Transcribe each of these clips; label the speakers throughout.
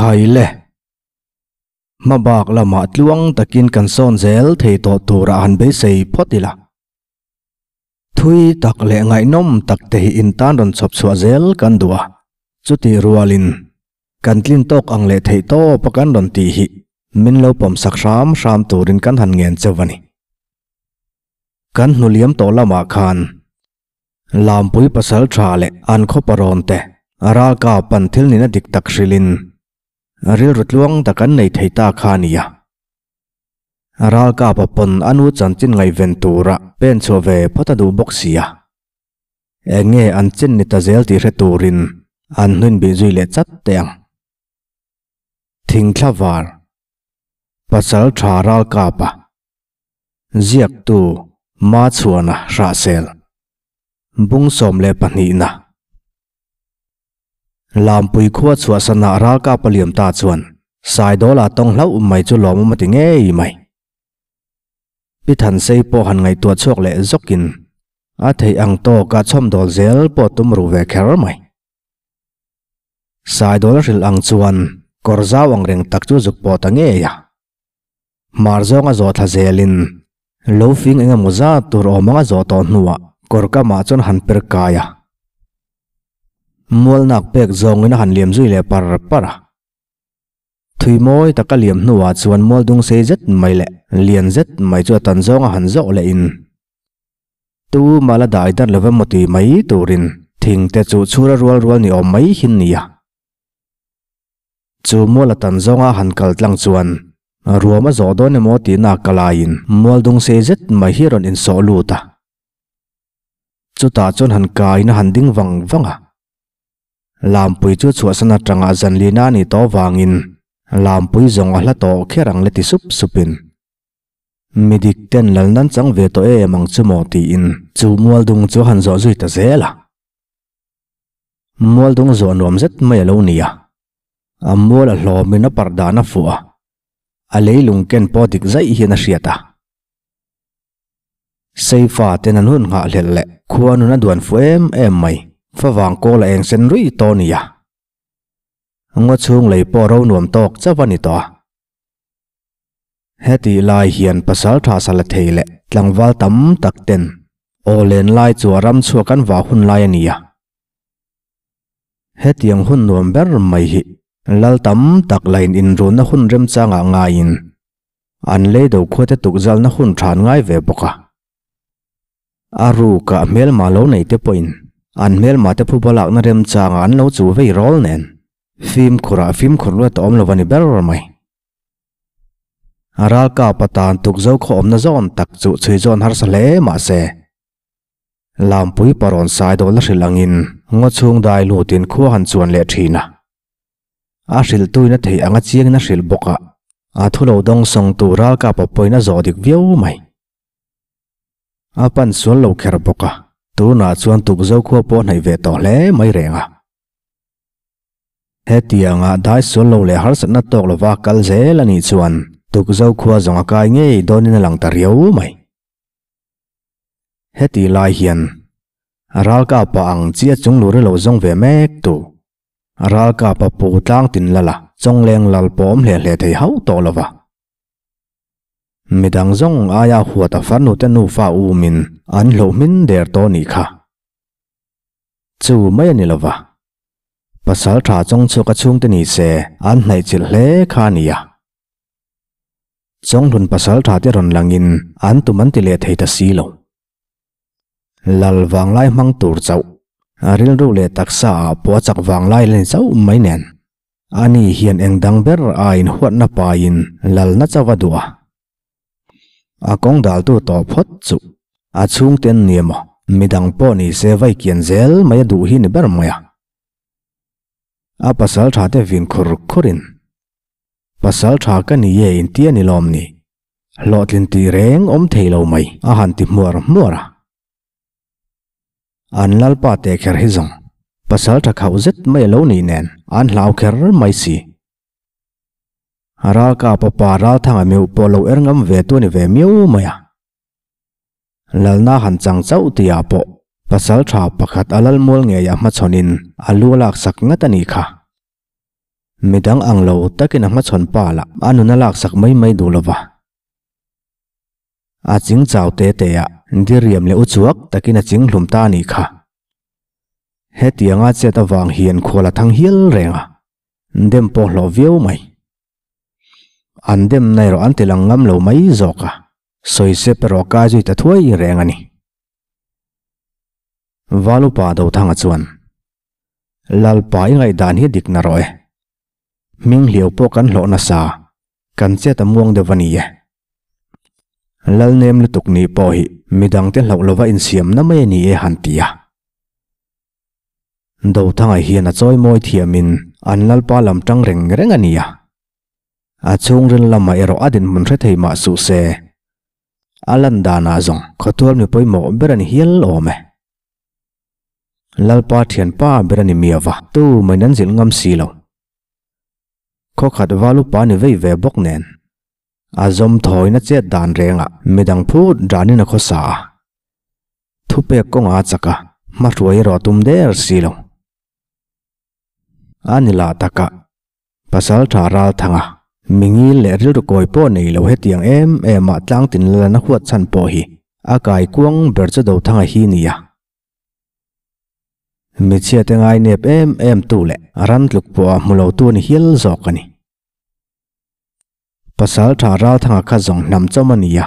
Speaker 1: Khaile, hma bak lamah tluang takin kan sawn zel thei tawh turah han beisei phawt ila. Thui tak leh ngaihnawm tak te hi in tan rawn chhawp chhuah zel kan duh a, chutih rualin kan tlin tawk ang leh theih tawp a kan rawn tih hi min lo pawm sak hram hram turin kan han ngen che va ni. Kan hnuliam tawh lamah khan Lampui pasal tha leh an khawpa rawmte a ralkap an thil nina dik tak hrilhin rilru tluang tak an nei thei ta kha a ni a. A ralkapa pawn a nu chanchin ngaihven tura pen chhuah ve phawt a duh bawk sia. Eng nge an chin ni ta zel tih hre turin an hnuin bih zui leh chat teh ang. Thingthlavar, pasal tha ralkapa Ziaktu, Hma chhuahna hrahsel, bung sawm leh pahnihna. Lampui khua chhuah sanah ralkapa Liamta chuan Saidawla tawng hlauh mai chu lawmawm a ti ngei mai. Pi Thansei pawh han ngaihtuah chhuak leh zawkin a theih ang tawka chawmdawl zel pawh tum ru ve kher mai. Saidawla hrilh ang chuan kawr zau angreng tak chu zuk pawh ta ngei a. Hmar zawng a zawhtla zel in lo fing eng emaw zat tur awm anga zawh tawh hnu ah kawr kam ah chuan han per kai a, mual nak pek zawng in a han liam zui leh par par a, thui mawi tak a liam hnu ah chuan mual dung sei zet mai leh lian zet mai chu a tan zawng a han zawh leh in tu mal a dah i dar lo va maw tih mai tur in thing te chu chhur a rual rual ni awm mai hi an ni a. Chu mual a tan zawnga han kal tlang chuan ruam a zawh dawn emaw tihna ka laiin mual dung sei zet mai hi a rawn insawh lut a. Chutah chuan han kaiin a han ding vang vang a. Lampui chu chhuahsan atanga zanlina a ni tawh avangin Lampui zawng a hla tawh kher ang le ti sup supin Mi dik ten lal nan chang ve tawh em ang chu maw tiin chu mual dung chu a han zawh zui ta zel a. Mual dawng zawh nuam zet mai a lo ni a, a mual a hlawm in a parh dan a fuh a, a leilung ken pawh dik zaih hian a hriat a. Seifa ten an hun nghah hlelh leh khua nun a duan fuh em em mai, fa vang kawl a eng sen rui tawh a ni a, ngawchhung lei pawh ro nuam tawk chauh a ni tawh a, Hetih lai hian pasal tha sala thei leh tlangval tam tak ten aw len lai chu a ram chhuak an vah hun lai a ni a. Hetiang hun nuam ber mai hi lal tam tak lahin inrunna hun remchangah ngaiin an leido khuate tukzalna hun than ngai ve bawk a. A ruka hmelma lo nei te pawhin an hmelma te phuba lakna remchanga an lo chu vei rawl nen fimkhurah fimkhur luat a awm lo a ni ber mai. A ralkap atan tukzo khawawmna zawn tak chu chhuizawn harsa hle mahse, lampui parawn saidawl a hrilh angin ngaw chhung dai lutin khua han chuan leh thin a. A hrilh tuin a theih anga chiangin a hrilh bawkah a thulo dawng sawngtu ralkapa pawhin a zawh dik viau mai. A pan sual lo kher bawk a, tunah chuan tukzo khua pawh a hnaih ve tawh hle mai reng a. Hetiang a dai sual lo leh harsatna tawk lova kal zel anih chuan tukzo khua zawng a kai ngei dawnin a lang ta riau mai. Heti lai hian a ralkapa ang chi a chunglur i lo zawng ve mek tu, a ralkapa pu tlang tin lala chawngleng lal pawh awm hle hle thei hauh tawh lova Midang zawng aia huata farnute nufa umin an hlauh hmin der tawh nih kha. Chu mai a ni lo va. Pasal tha chawng chu ka chhungte ni se an hnaihchilh hle kha a ni a. Chawnghlun pasal thate rawn langin an tum an ti leh thei ta si lo. Lal vanglai hmang tur chauh, rilru leh taksa ah puachak vanglai a ni chauh mai nen. Ani hian engdang ber a inhuatna paiin lalna chauh a duh a, a kawng daltu tawh phawt chu a chhungte an ni emaw midang pawh ni se vai kian zel mai a duh hi ni ber mai a. A pasal thate vin khur khurin, Pasal tha ka ni e intia ni lawm ni? Hlawhtlin tih reng awm thei lo mai a han ti hmuar hmuar a. An lalpa te kher hi zawng pasal tha khauh zet mai a lo nih nen an hlau kher mai si. A ralkap a pa Ralthanga meuh pawh lo er ngam ve tu a ni ve miau mai a. Lalna han chang chauh ti ah pawh pasal tha pakhat a lal mual ngei ah hmachhawn in a lu a lak sak ngat a nih kha. Mi dang ang lo takin a hmachhawn pal ah a nun a laksak mai mai duh lova. A ching chau te te ah diriam leh uchuak takin a ching hlum ta nih kha. Hetiang a chet avang hian khual a thang hial reng a, dem pawh hlawh viau mai. An demna erawh an tilang ngam lo mai zawk a, sawi sep erawh kai zui ta thuai reng a ni. Valupa Dothanga chuan Lalpa i ngaihdan hi dikna rawh e. Hming hliau pawh kan hlawh nasa kan chet a muang deuh a ni e. Lalnem lutuk nih pawh hi midangte hlauh lova insiamna mai a ni e han ti a. Dothangai hian a chawi mawi thiamin an Lalpa lam ṭang reng reng a ni a. A chhungril lama erawh a dinhmun hre thei mah suh se, a lan danah zawng khawtualmi pawimawh ber a ni hial awm e. Lalpa thian pa ber a ni mi ava. Tu mai nan zilh ngam si lo. Khawkhat valu pa ni vei ve bawk nen a zawm thawina chet dan renga midang phut danin a khaw sa a. Thupek kawnga a chak a, hmahruai erawh a tum der si lo. A ni lah takah Pasalṭha Ralthanga Mingil leh Rilrukawi pawh nei lo hetiang em em a tlang tin la lana huat chhan pawh hi a kaikuang ber che do thanga hi ni a. Michhiate ngai nep em em tu leh ran tluk pawh a hmu lo tu ni hial zawk a ni. Pasalṭha Ralthanga kha zawng hnam chawm a ni a.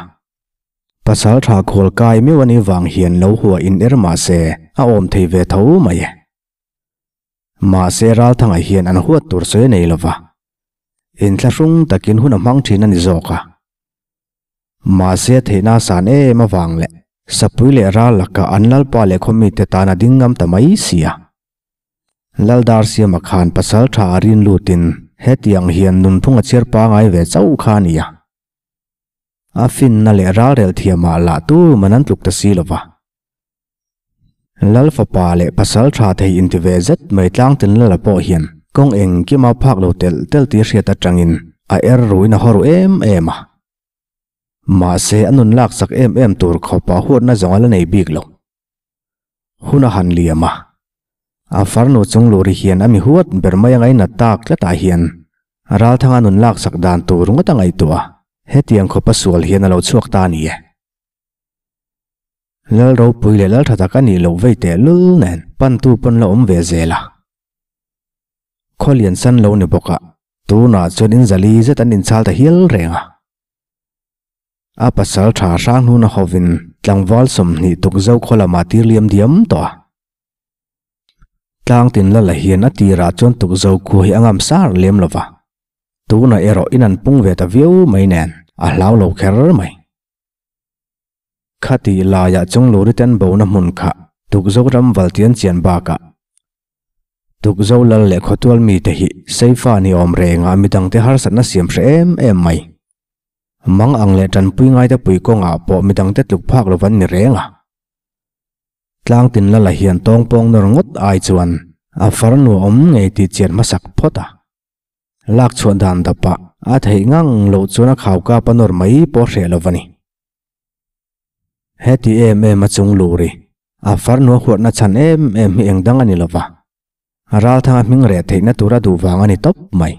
Speaker 1: Pasalṭha khawl kai meuh a nih vang hian lo hua in er mah se a awm thei ve tho mai e. Mahse Ralthangai hian an huat tur sawi nei lo va, in thla hrung takin hun a hmang thin a ni zawk a. Mahse a theihna a san em avang leh Sapui leh Ral laka an lalpa leh khawmite tan a ding ngam ta mai si a. Lal dar siama khan pasal tha a rin lutin hetiang hian nunphung a chhiar pangai ve chauh kha a ni a. A finna leh ralrel thiama lah tur man an tluk ta si lova. Lal fapa leh pasal tha thei inti ve zet mai Tlangtin Lala pawh hian kawng engkima phak lo telh telh tih hriat atangin a er ruin a haw ru em em a. Mahse a nun laksak em em tur khawpa huatna zawnga la nei bik lo. hun a han liam a. A farnu Chungluri hian a mi huat ber mai a ngainat tak tlatah hian Ralthanga nun laksak dan tur ngawt a ngaihtuah a, hetiang khawpa sual hian a lo chhuak ta a ni e. Lalropui leh Laltha tak a nih loh vei teh lul nen pantu pawn la awm ve zel a. Khaw lian san lo ni bawkah tunah chuan in zali zet an inchal ta hial reng a. A pasal tha hrang hnun a haw in tlangval sawmhnih tukzo khaw lamah tir liam diam tawh a. Tlang tin la la hian a tirah chuan tukzo khu hi a ngam sar lem lo va. Tunah erawh in an pung ve ta viau mai nen a hlau lo kher mai. Khatih laiah chung Luriten bo na hmun kha tukzo ram valtian chian bakah tukzo lal leh khawtual mite hi seifa ni awm rengah midangte harsatna siam hre em em mai. Mang ang leh tanpui ngaite pui kawngah pawh midangte tluk phak lova an ni reng a. Tlang tin la la hian tawng pawng nawr ngawt ai chuan a far nuaawm ngei tih chian hmasak phawt a. Lak chhuah dan dapah a theih ngang loh chuan a khau kap a nawr mai pawh a hreh lova ni. Heti em em a chung lu ri, a far nua huatna chhan em em hi engdang a ni lova. Ralthanga hming reh theihna tura duh vang a ni tawp mai.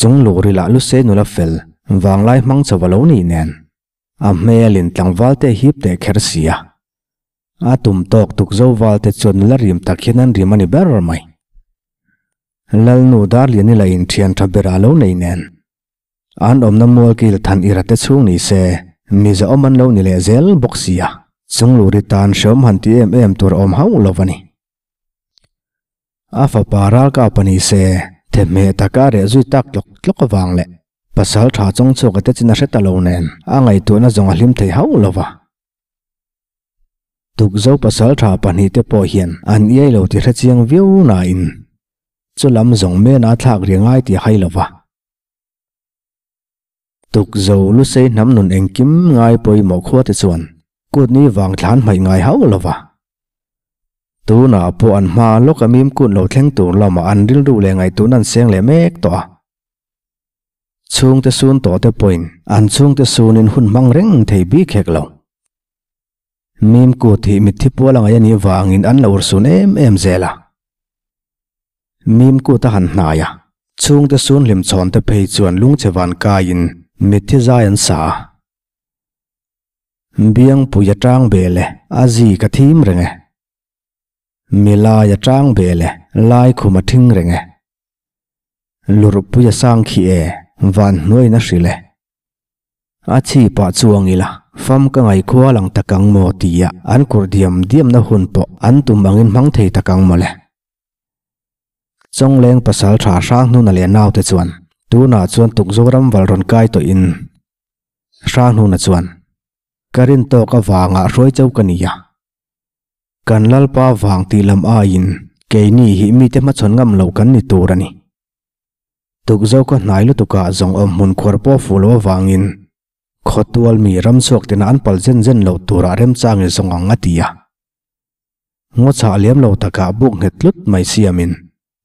Speaker 1: Chung luh ri lah lu se nula fel vang lai hmang chauh a lo nih nen a hmel in tlangval te hip leh kher si a. A tum tawk tukzo val te chuan nula rim tak hian an rim a ni ber mai. Lalnu Darlian ila in thian tha berah a lo nei nen an awmna mual kil than i ra te chhung ni se mi zahawm an lo ni leh zel bawk si a. Chung luh ri tan hreawm han ti em em tur a awm hauh lo a ni. A fapa ralkap a ni se, thehmeh tak a reh zui tak tlawk tlawk avang leh pasal tha chawng chhuak te chin a hre ta lo nen a ngaihtuahna zawng a hlim thei hauh lo va. Tukzo pasal tha pahnih te pawh hian an iai lo ti hre chiang viau nain chu lam zawng mena a thlak riangai tih a hai lo va. Tukzo lu sei hnam nun engkim ngai pawimawh khuate chuan kutni vang tlan hmaih ngai hauh lova. Tunah pawh an hma lawka mim kut lo thleng tur lama an rilru leh ngaihtuhna an seng leh mek tawh a. Chhungte sun tawhte pawhin an chhungte sunin hun hmang reng thei bik hek lo. Mim kut hi mithi pual a ngaih a nih vangin an lo ursun em em zel a. Mim kut a han hnai a, chhungte sun hlim chhawn te phei chuan lungche van kaiin mithi zai an sa a. Biangpuia tang bel e, a zika thim reng e. Milai a chang bel e, lai khum a thing reng e, lurhpui a sang khi e, van hnuaiin a hrilh e. A chhipah chuang ila, fam ka ngaih kual ang tak ang maw tia an kur diam diamna hun pawh an tum angin hmang thei tak ang mawle. Chawngleng pasal tha hrang hnuna leh naute chuan tunah chuan tukzoram val rawn kai tawhin hrang hnuna chuan Ka rin tawk avanga hruai chau ka nia. Kan Lalpa vang tih lam aiin keini hi mite hmachhawn ngam lo kan ni tur a ni. Tukzo ka hnai lutukah zawng awm hmun khuar pawh fuh lo avangin khawtual mi ramchhuak tina an pal zen zen lo turah remchang i zawng ang a ti a. Ngawchhah liam lo takah buk nghet tlut mai siamin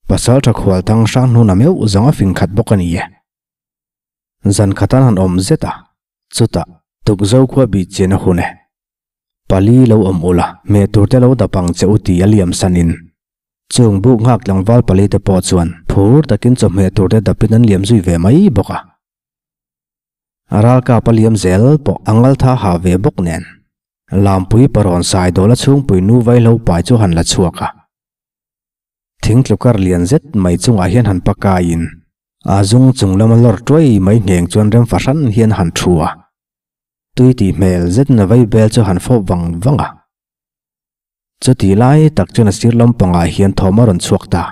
Speaker 1: Pasalṭha Khualthang hrang hnuna meuh zawng a fing khat bawk a ni e. Zan khata han awm zet a. Chuta tukzo khua bih chian a hun e. Pali lo awm ula, hmeh tur te lo dap ang che u tih a liam san in. Chung buk nghak tlangval pali te pawh chuan phur takin chawhmeh tur te dapin an liam zui ve mai bawk a. A ralkap a liam zel pawh a ngal tha ha ve bawk nen Lampui Parawn Saidawla chhungpui nu Vaihlo pai chu han la chhuak a. Thing tlukar lian zet mai chungah hian han pakaiin aa zung chung lama lawr tuai mai ngheng chuan rem fahran hian a han thu a. Tui tih hmel zet na vei bel chu han fawp vang vang a. Chutih lai tak chuan a sir lam pangah hian thawm a rawn chhuak ta.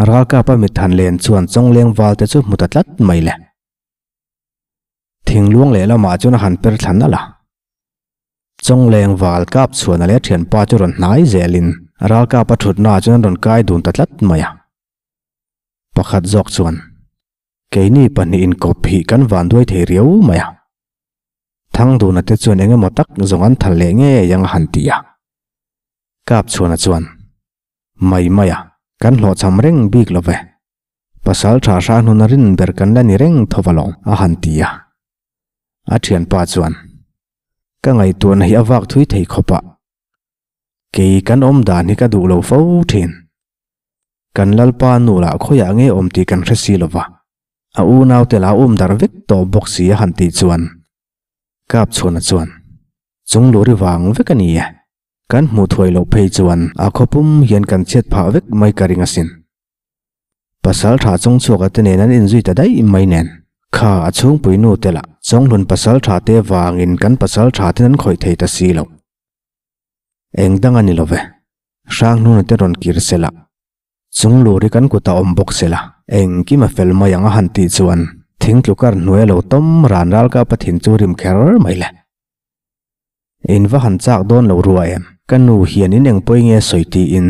Speaker 1: Ralkapa mit han len chuan chawngleng valte chu hmu ta tlat mai le. Thingluang leh lamah chuan a han per thla nalh a. Chawngleng val kap chhuahna leh thianpa chu rawn hnai zel in ralkap a thutnaah chuan an rawn kai dun ta tlat mai a. Pakhat zawk chuan, Keini pahnih in kawp hi kan van duai thei riau mai a. Thangduna te chuan engemaw tak zawng an thal leh ngei ang a han ti a. Kap chhuahna chuan, Mai maia kan hlawhchham reng bik lo ve. Pasal tha hra hnuna rin ber kan la ni reng tho va lo, a han ti a. A thianpa chuan, Ka ngaihtuahna hi a vak thui thei khawp a. Kei kan awm dan hi ka duh lo fo thin. Kan lalpa nu lah khawiah nge awm tih kan hre si lo va, a unaute lah a awm darh vek tawh bawk si a han tih chuan Kapchhuna chuan, Chunglu ri vang vek a ni e. Kan hmuh thuai loh phei chuan a khaw pum hian kan chhiat phah vek mai ka ring asin. Pasaltha chawngchhuaka te nen an inzui ta daih mai nen. Kha a chhungpui nu te lah chawnghlun pasaltha te vangin kan pasaltha ten an khawih thei ta si lo. Engdang a ni lo ve. Hrangnuna te rawn kir se lah. Chunglu ri kan kutah awm bawk sela, engkim a fel mai ang a han tih chuan thing tlu kar hnuai a lo tawm ran ral ka a pathin chu rim kher mai le. In va han chak dawn lo ruah em? Ka nu hian in engpawih nge sawi tiin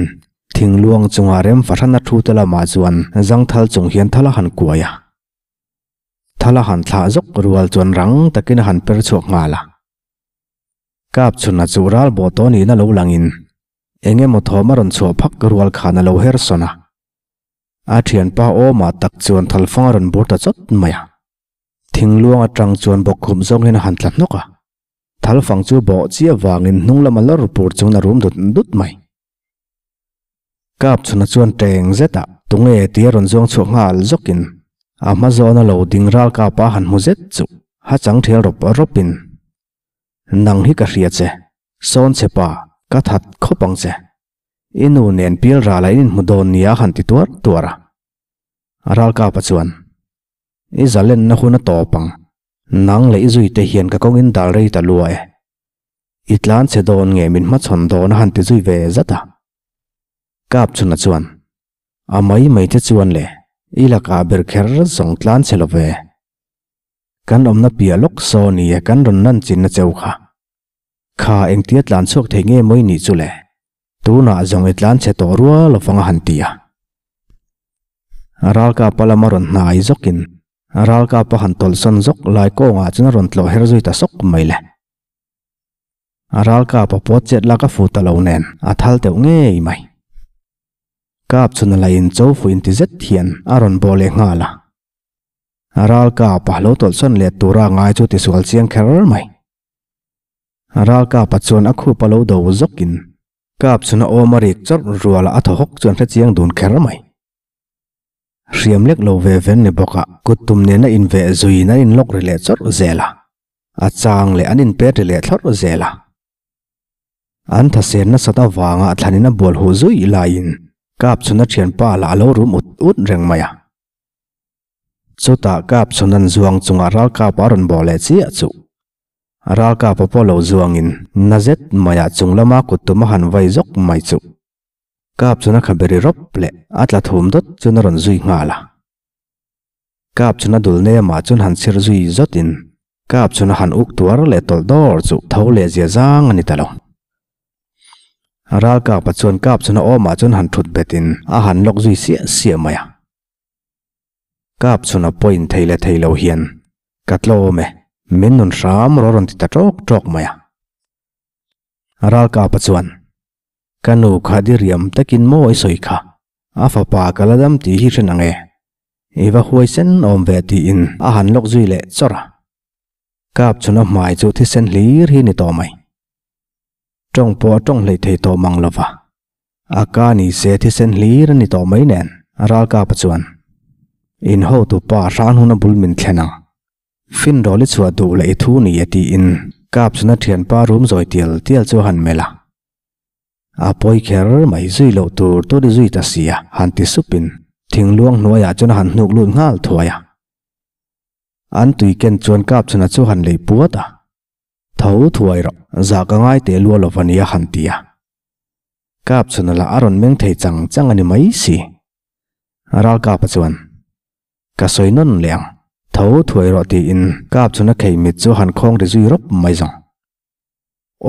Speaker 1: thing luang chunga rem fahran a thu te lamah chuan zangthal chung hian thal a han kuai a. Thal a han thlah zawk rual chuan rang takin a han per chhuak nghal a. Kap chhunah chuh ral bawh tawh nihna lo langin Eng emaw thawm a rawn chhuah phak rual khan a lo her sawn a, a thianpa awmah tak chuan thalfang a rawn bur ta chawt mai a. Thingluang atang chuan bawk khum zawng hian a han tla hnawk a, thalfang chu bawh chiah vangin hnung lama lawr pur chuan a rum dut dut mai. Kap chhuna chuan teng zetah tunge tih a rawn zuang chhuah nghal zawkin a hma zawn a lo ding ralkap a han hmu zet chuh, ha chang thial rawp rawpin Nang hi ka hria che, Sawnchhe pa, ka that khawp ang che. I nu nen pilrala in inhmu dawn nia han ti tuar tuar a. A ralkapa chuan, I zalenna hun a tawp ang, nang leh i zui te hian ka kawng in dal rei ta lua e. I tlan che dawn nge min hmachhawn dawn a han ti zui ve zat a. Kapchhuna chuan, A mai mai te chuan le, i lakah ber kher zawng tlan che lo ve. Kan awmna piah lawk saw ni e kan rawn nan chinna cheu kha. Kha engtia tlan chhuak thei nge mawi nih chu le? Tunah zawng i tlan chhe tawh rual lovang a han ti a. Ralkap a lama rawn hnai zawk in ralkap a han tawlhsawn zawk lai kawng ah chuan a rawn tlawh her zui ta sawk mai le. Ralkap a puat chet lak a fu ta lo nen a thal teuh ngei mai. Kap chhuna la in chofu in ti zet hian a rawn baw leh nghal a. A ralkapa lo tawlhsawn let tura ngai chu tisual chiang kher mai. A ralkapa chuan a khupa lo do zawkin kap chhun a awm a rik chawrh ruala a thaw hawk chuan hre chiang dun kher mai. Hriam lek lo ve ven ni bawka kut tum nena inveh zuiin an in lawk ri leh chawrh zel a, a chang leh an in pet ri leh thlawrh zel a. An thahsen nasat avanga thlanin a bual huh zui laiin kap chhun a thianpa lah a lo rum ut ut reng mai a. Chuta kap chhun an zuang chungah ralkap a rawn bawh leh chiah chuh. A ralkap a pawh lo zuangin na zet maiah chung lama kut tum a han vai zawk mai chuh. Kap chhun a kha beri rawp leh a tla thum dawt chuan a rawn zui nghal a. Kap chhun a dul nemah chuan han chhir zui zawtin kap chhun a han uk tuar leh tawlh dawr chuh. Tho leh zia zang a ni ta lo. Ral kak pa chuan kap chhun a awm ah chuan han thut bet in a han lock zui siah siah mai a. Kap chhun a point thei le thei lo hian ka tlawm e, min nun hram rawh a rawn ti ta tawk tawk mai a. Ral kak pa chuan, Ka nu kha diriam tak in maw i sawi kha, a fapa ka la dam tih hi hren ang e, i va huaisen awm ve ti in a han lock zui leh chawr a. Kap chhun a hmai chu thisen hlir hi ni tawh mai, Tawng pawh a tawng hleih thei tawh mang lo va, a ka ni se thisen hlir a ni tawh mai nen a ralkapa chuan in hotu pa hran hun a bul min thlen ang, finrawl i chhuah duh la i thu ni a tiin kap chhun a thianpa rum zawi tial tial chu a han melh a. A pawi kher mai zui loh tur tur i zui ta si a han ti sup in thingluang hnuaiah chuan a han hnuk lut nghal thuai a. An tuiken chuan kap chhunah chu a han lei puat a. Tho thuai rawh, zah ka ngai teh lua lo va nia han ti a. Kap chhun a la a rawn meng thei chang chang a ni mai si. A ral kapa chuan, Ka sawi nawn leh ang, tho thuai rawh tiin kap chhun a khei mit chu han khawng ri zui rawp mai zawng.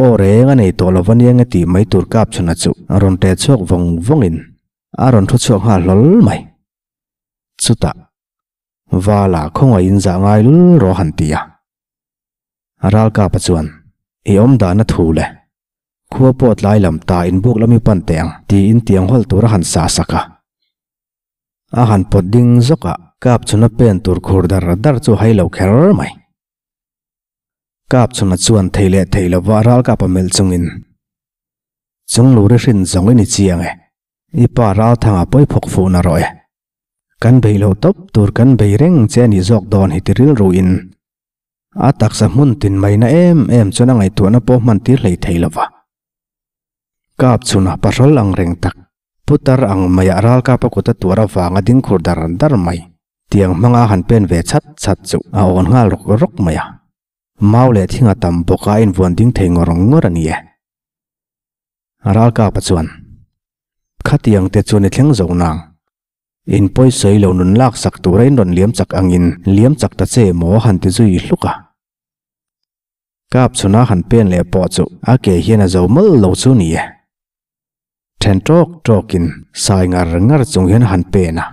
Speaker 1: Aw reng a nei tawh lo va nia nge tih mai tur kap chhun a chu a rawn ṭe chhuak vawng vawngin a rawn ṭhu chhuak nghal hlawl mai. Chutah Vala khawngaih in zah ngai lul rawh han ti a. A ralkapa chuan, I awm dan a thu le. Khua pawt lai lam ta in buk lam i pan teh ang tiin tiang hawl tur a han sa sak a. A han pawt ding zawkah kap chhuna pen tur khur dar dar chu a hai lo kher mai. Kap chhuna chuan thei leh thei lova a ralkapa melh chungin, Chunglu rihrin zawng i ni chiang e, I pa Ralthanga pawiphuak fuhna rawh e. Kan beih lo tawp tur kan bei reng che a nih zawk dawn hi ti rilru in a taksa hmun tin mai na em em chuan a ngaihtuahna pawh hman tir hlei thei lo va. Kap chhunah pahrawl ang reng tak putar ang maiah Ralkapa kuta tuar avang a ding khur dar dar mai tiang hmanga han pen ve chhat chhat chu a awn nghal rawk rawk mai a. Mau leh thing a tam bawk a, invuan ding thei ngawr ngawr a ni e. A ralkapa chuan, Khatiang te chu ni thleng zo nang, in pawisawi lo nun lak sak tura in rawn liam chak angin liam chak ta che emaw han ti zui hluk a. Kap chhuna han pen leh pawh chu a ke hian a zo mal lo chu ni e. Then tawk tawkin sai ngar ngar chung hian han pen a.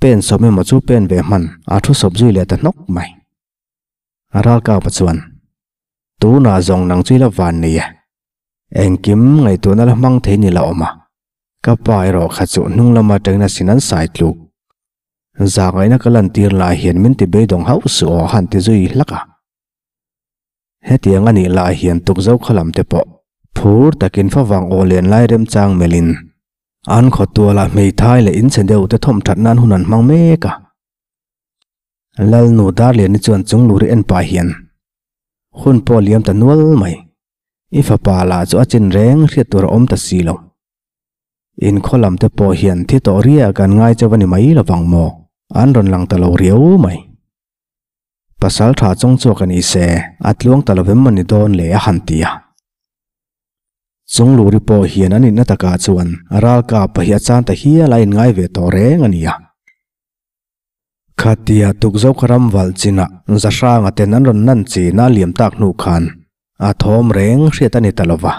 Speaker 1: Pen sawm emaw chu pen ve hman a thu sawp zui leh ta hnawk mai. A ralkapa chuan, Tunah zawng nang chu i la van nei e. Engkim ngaihtuahna a la hmang thei ni la awm a, ka pa erawh kha chu hnung lam atangin a sin an sai tluk. Zahngaihna ka lantir lah hian min ti beidawng hauh suh aw han ti zui hlak a. Hetiang a nih lah hian tukzokha lam te pawh phur takin favang aw len lai remchang melhin an khawtuala hmeithai leh inche deuh te thawmthatna an hun an hmang mek a. Lal nu Darliani chuan chungluri en pah hian hun pawh liam ta nual mai. I fapa lah chu a chinreng hriat tur a awm ta si lo. In khaw lam te pawh hian thi tawh riah kan ngai che va ni mai lo vang maw? An rawn lang ta lo riau mai. Pasal tha chawng chu ka ni se, a tluang ta lovem a ni dawn le a han ti a. Chungluri pawh hian an inna takah chuan ralkap pahih a chan ta hial a inngai ve tawh reng a ni a. Khatia tukzo ka ram valh chinah Zahranga ten an rawn nan chin a liam tak hnu khan a thawm reng hriat a ni ta lo va.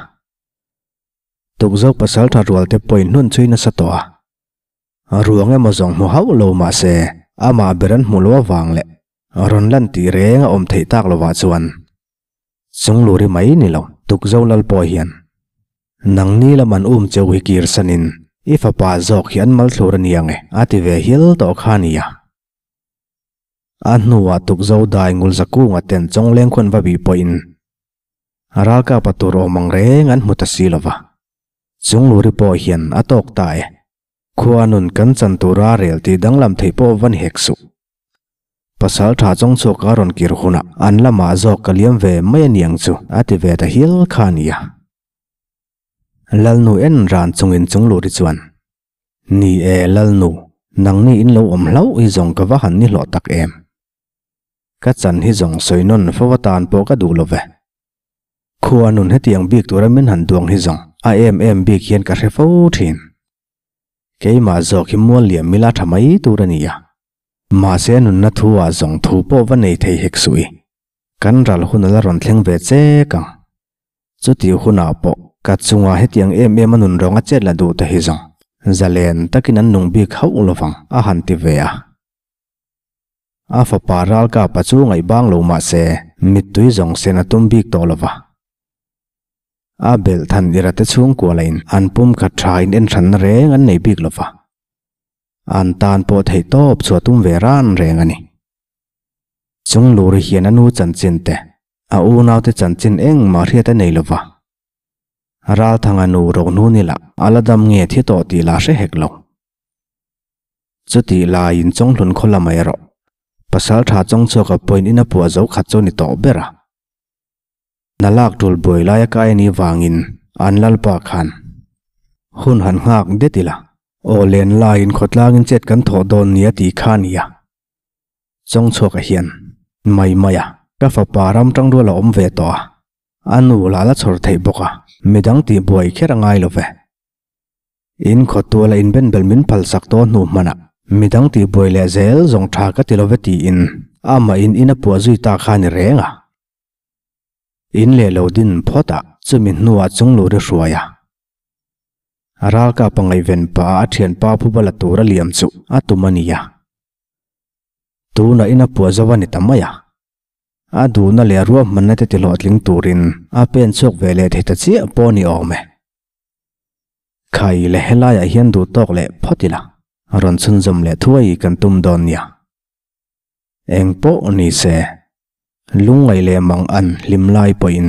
Speaker 1: Tukzo pasal tha rual te pawhin hnun chhui nasa tawh a, ruang emaw zawng hmu hauh lo mahse amah ber an hmu lo avang leh Rawn lan tih reng a awm theih tak lovah chuan chung lu ri mai ni lo. Tukzo lal pawh hian, Nang ni lam an um cheu hi kir sanin i fapa zawk hi an mal thlur a nia nge? a ti ve hial tawh kha a nia. A hnuah tukzo dai ngulza kunga ten chawng lengkhuan va bih pawhin ralkapa tur awm ang reng an hmu ta si lova, chung lu ri pawh hian a tawk ta e. Khua nun kan chan tura rel tih danglam theih pawh va ni hek suh. Pasal tha chawng chhuak a rawn kir hunah an lamah zawk ka liam ve mai a niang chu a ti ve ta hial kha a nia. Lalnu en ran chungin chung lut i chuan, Ni e, Lalnu, nangni in lo awm hlauh hi zawng ka va han ni hlawh tak em? ka chan hi zawng sawi nawn fo atan pawh ka duh lo ve. Khua nun hetiang bik tura min han duang hi zawng a em em bik hian ka hre fo thin. Keimah zawk hi mual liam ila tha mai tur a ni a, mahse a nunna thu ah zawng thu pawh va nei thei hek suh i kan ral hun ala rawn thleng ve chek ang. Chutih hunah pawh ka chunga hetiang em em a nun rawnga chet la duh te hi zawng zalen takin an nung bik hauh lovang a han ti ve a. A fapa ralkap a chu ngaihbang lo mah se, mittui zawng sen a tum bik tawh lova. A belh than ira te chhungkua lahin an pumkhat tha inenhranna reng an nei bik lova. An tan pawh theihtawp chu a tum ve ran reng a ni. Chungluri hian a nu chanchinte, a unaute chanchin engmah a hriat a nei lova. Ralthanga nu Rohnunila a la dam nge thi tawh tih la hre hek lo. Chutih laiin chawnghlun khaw la mai rawh. Pasal tha chawng chhuaka point in a puah zo khat chu ni tawh ber a. Na lak tul buai lai a kai ani vangin an Lalpa khan hun han nghak det ila. Aw len laiin khaw tlangin chet kan thawh dawn nia tih kha a ni a. Chawng chhuaka hian mai mai a. Ka fapa ram tangrual a awm ve tawh a. A nu lala chhawr theih bawk a. Midang tih buai kher a ngai lo ve. In khawtual a inben belh min phal sak tawh hnu hmanah mi dang tih buai leh zel zawng tha ka ti lo ve tiin a amahin in a puah zui ta kha a ni reng a. In leh lo din phawtah chumi hnuah chung lu ri hruai a. A ralkap a ngaihven paah a thian pa pu bala tur a liam chu a tum a nia. Tunah in a puah zo a ni ta mai a. A duhna leh a ruahmanna te tihlawh tling turin a pen chhuak ve leh thei ta chiah pawh ni awm e. Khaile helaiah hian duh tawk leh phawt ila rawn chhunzawm leh thuai kan tum dawn nia. Engpawh nise, lungngaih leh mangan hlim lai pawhin